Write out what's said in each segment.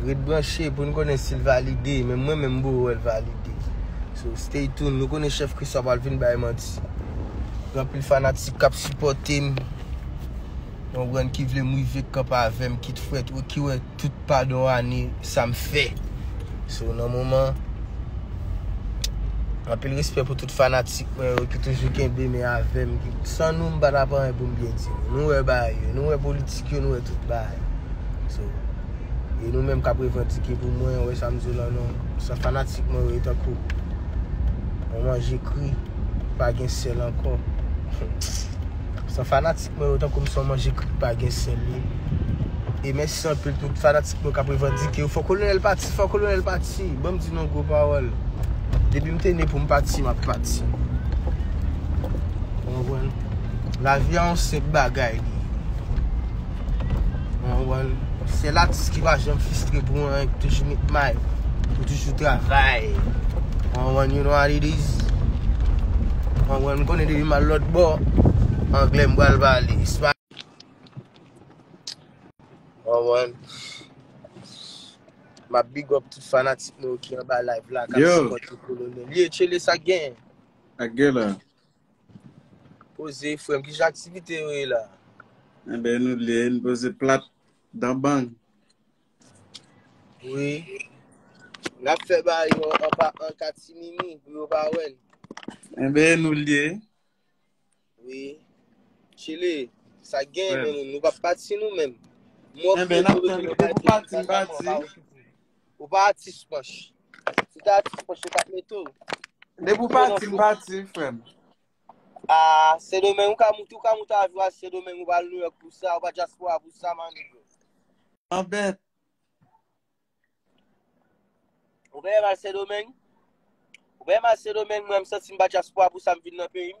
Ret branche pou n konnen si l valide. Menm mwen menm m poko wè l valide. So stay tune. Nou konnen chèf Christ pa pral vin bay manti. Gen anpil fanatik k ap sipòte m. Nou konprann ki vle m rive kanpe avè m kit frèt ou ki wè tout padon ane sa m fè. So nan moman anpil respè pou tout fanatik mwen yo ki toujou kenbe men avè m. San nou m pa ta pa anyen pou m byen di nou. Nou wè bagay yo. Nou wè politik yo. Nou wè tout bagay. E nou menm kap revandike pou mwen wè sa m di w la non San fanatik mwen yo e tankou Yon manje kri ki pa gen sèl ankò San fanatik mwen yo e tankou m se yon manje kri ki pa gen sèl ye E mèsi anpil tout fanatik mwen kap revandike Fò kolonèl pati fò kolonèl pati Ban m di nou yon gwo pawòl Depi m te ne pou m pati map pati Ou konprann Lavi a yon senp bagay li Mwen wè l. Sèl atis ki pa janm fistre pou anyen, ki toujou met may, ki toujou travay. Mwen wè l, you know what it is. Mwen wè l, m konnen depi m al lòt bò, anglè m pral pale. Espa. Mwen wè l. M ap big up tout fanatik nou yo ki anba live la, k ap sipòte kolonèl. Ye, tchele sa k gen? Sa k gen la? Poze frem ki jan aktivite yo ye la. Ebe eh nou li e nou poze plat dan bang. Oui. N'a fè ba yo an pa an katimini pou yo pa wèn. Ebe eh nou li e. Oui. Chile, sa gen men nou pa pati nou men. Ebe n'a fè nou, depi pati, pati. Ou pa atis pòch. Si te atis pòch yo tap mete w. Depi ou pati m pati frè m. Aah sendomeng ou ka moute ou ka moute avyon al sendomeng ou pa al nouyòk pou sa ou pa dyaspora pou sa man nigga. An bèt. Ou peye m al sendomeng? Ou peye m al sendomeng mwen m santi m pa dyaspora pou sa m vin nan peyi m.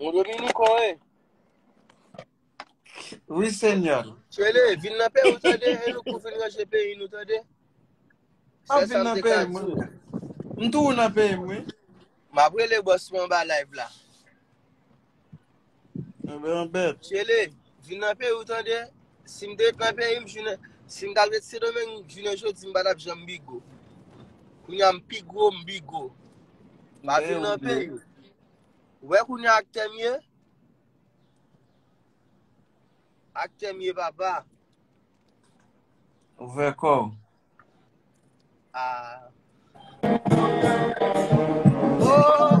Bon Dominico e. Oui seigneur. Chwele, vin nan pe ou tande, e nou pou vin ranje peyi nou tande. Map vin nan peyi mwen. M tou nan peyi mwen. Map rele boss mwen ba live la. Chele, vin nan peyi ou tande, si m te ret nan peyi m, si m ta ret Sendomeng jounen jodi m pa tap janm bigo. Kounye a m pi gwo, m bigo. Ma vin nan peyi ou. Ou wè kounye a ak tè m ye? Ak tè m ye papa. Ou vè kò ou. A. O.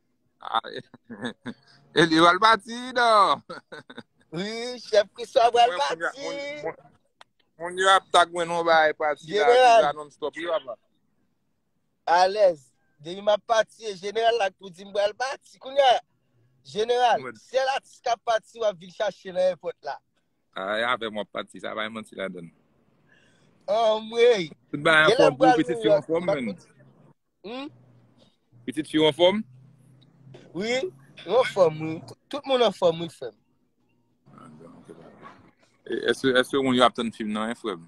E li wèl pati do. Wi, chèf Christophe wèl pati. Moun yo ap tak mwen nou bay pati la. General. Nan stop yo ap la. Alèz. Demi map pati e general lak pou di m wèl pati. Kounye a. General. Sèl atis kap pati wap vin chache nan airport la. A, e avè mwen pati. Sa bay manti la dan. An mwen. Tout ba yon fòm pou piti si yon fòm men. Hum. Pitit fi ou an fòm? Wi, ou an fòm wi. Tout moun an fòm wi frèm. Eske moun yo ap tann film nan en frèm?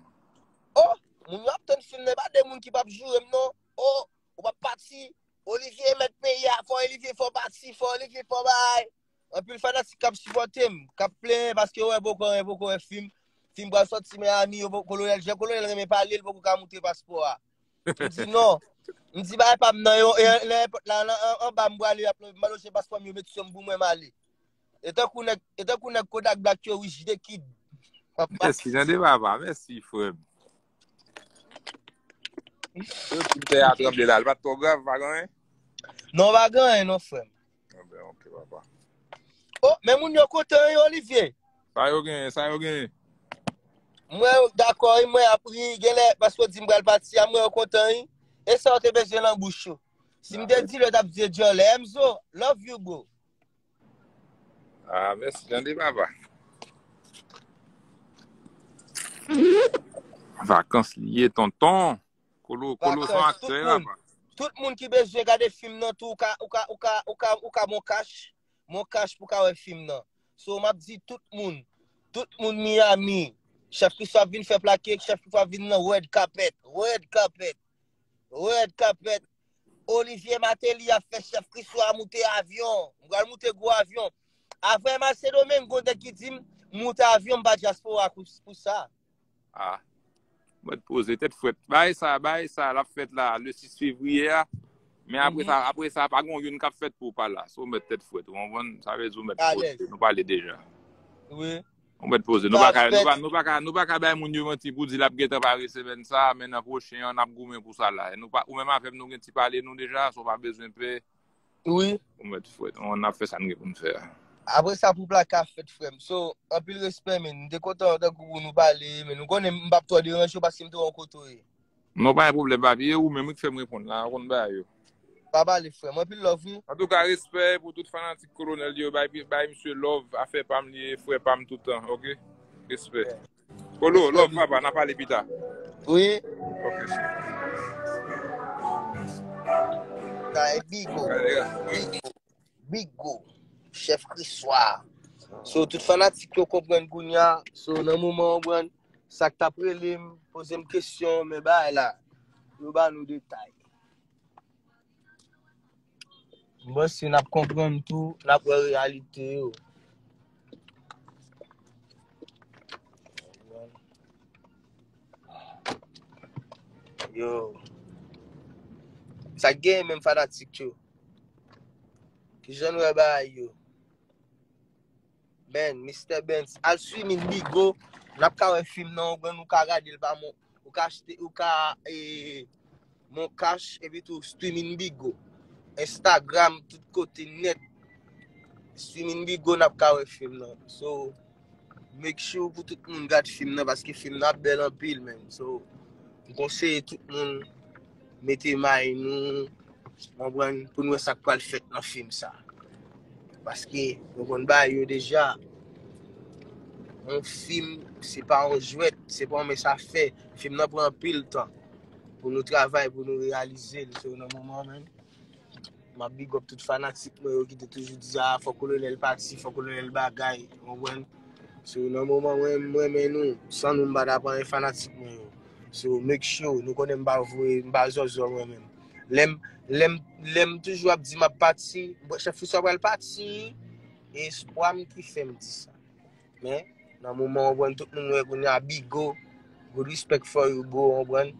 Oh, moun yo ap tann film nan, pa de moun ki pap jourem non. Oh, ou pap pati. Olivier met peyi a, fò Olivier fò pati, fò Olivier fò bay. Anpil fanatik kap sipotem, kap plen paske wè boko wè, boko wè film. Film pral soti Miami, yo boko kolonel, jen kolonel renmen pale, l boko ka moute paspò a. M di non. M di bagay pa m nan yo, e lè èpòt la anba m prale ap leve, m al oche paspò m yo mete sou m pou mwen m ale. E tankou nèg, e tankou nèg Kodak Black yo wi, jde kid. Mèsi, nan deva va, mèsi frè m. Yo di m tè a tranble la, l pa t twò grav, pa gen anyen? Non pa gen anyen non frè m. Anben ok papa. Oh men moun yo kontan wi Olivier. Sa yo genyen, sa yo genyen. Mwen dakò wi, mwen ap ri, genlè paske w di m pral pati a, mwen yo kontan wi. E sa w te bezwen lan bouch yo. Si m te di l yo t ap di e dyòlè. Emzo, love you bro. Ah mèsi tande papa. Vakans li ye tonton. Kolo son aktè apa. Tout moun ki bezwen gade film nan tou ou ka mon cash mon cash pou ka wè film nan so map di tout moun tout moun Miami chef Christophe ap vin fè plake chef Christophe ap vin nan red carpet red carpet red carpet Olivier Martelly ap fè chef Christophe a moute avyon mwen al moute gwo avyon avè Marcelo men gondè ki dim moute avyon mpa diaspora pou sa. Ah Mwen t poze tèt fwèt. Bagay sa, bagay sa lap fèt la le 6 fevrier a. Men apre sa, mm-hmm. apre sa pa gon youn kap fèt pou pa la. So mwen tèt fwèt. Ou anvan, sa vè di ou mwen poze. Nou pale deja. Oui. Ou mwen poze. Nou pa ka, nou pa, nou pa ka, nou pa ka bay moun yo manti pou di lap gètan pare semen sa, men nan pwochen an ap goumen pou sa la. Nou pa, ou men ma fèm nou gen ti pale nou deja, so pa bezwen pe. Pe. Wi. Ou met fwet. On ap fe sa nou gen pou nou fe a. Apre sa pou plaka fet frem. So, anpil respe men. M te kontan an tankou ou nou pale. Men nou konnen m pap tro deranje w paske m te wè w kote w ye. Non pa gen pwoblem papi. E ou menm wi k fem reponn la. Ou konn bagay yo. Pa pale frem. Anpil love wi. Antouka respe pou tout fanatik kolonel yo. Bay misye love. Afe pam li ye. Fre pam toutan. Ok. Respe. Polo, love papa, na pale pita. Wi. Ok cheri. Kay Bigo. Bigo. Chef Kriswa. So tout fanatik yo konpren kounya, so nan moman ou bran, sak ta prelim, pozem kesyon, men bay la. Nou ba nou detay. M panse n ap konprann tou, n ap wè reyalite yo. Yo. Sa k genyen menm fanatik yo? Ki jan n wè bagay yo? Ben, Mister Bens, al swiv min Bigo, nap ka wè film nan, oubyen nou ka gade l pa mon, ou ka achte, ou ka e mon cash epi tou swiv min Bigo. Instagram tout kote net. Swiv min Bigo nap ka wè film nan. So make sure pou tout moun gad film nan paske film nan ap bel anpil men. So m konseye tout moun mete may nou, konprann, pou nou wè sa k pral fèt nan fim sa. Paske, nou konn bay yo deja, yon fim, se pa yon jwèt, se pa yon mès a fè, fim nan pran anpil tan, pou nou travay, pou nou reyalize l, se yon nan moman menm. Map big up tout fanatik mwen yo ki te toujou di a fò kolonel pati, fò kolonel bagay, konprann? So nan moman mwen mwen men nou, san nou mpa ta pran yon fanatik mwen yo. So make sure nou konnen mpa vwe, mpa zòzò mwen men. Lèm lèm lèm toujou ap di map pati, chèf Friswa pral pati, e espwa m ki fèm di sa. Men, nan moman ou konprann tout moun wè kounye a Bigo, good respect for you bro, ou konprann?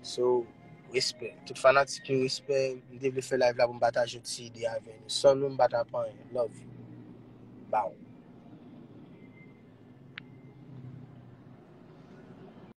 So, respè. Tout fanatik yo respè, m te vle fè live la pou m pataje yon ti ide avè nou. San nou m pa ta pa anyen. Love you. Baww.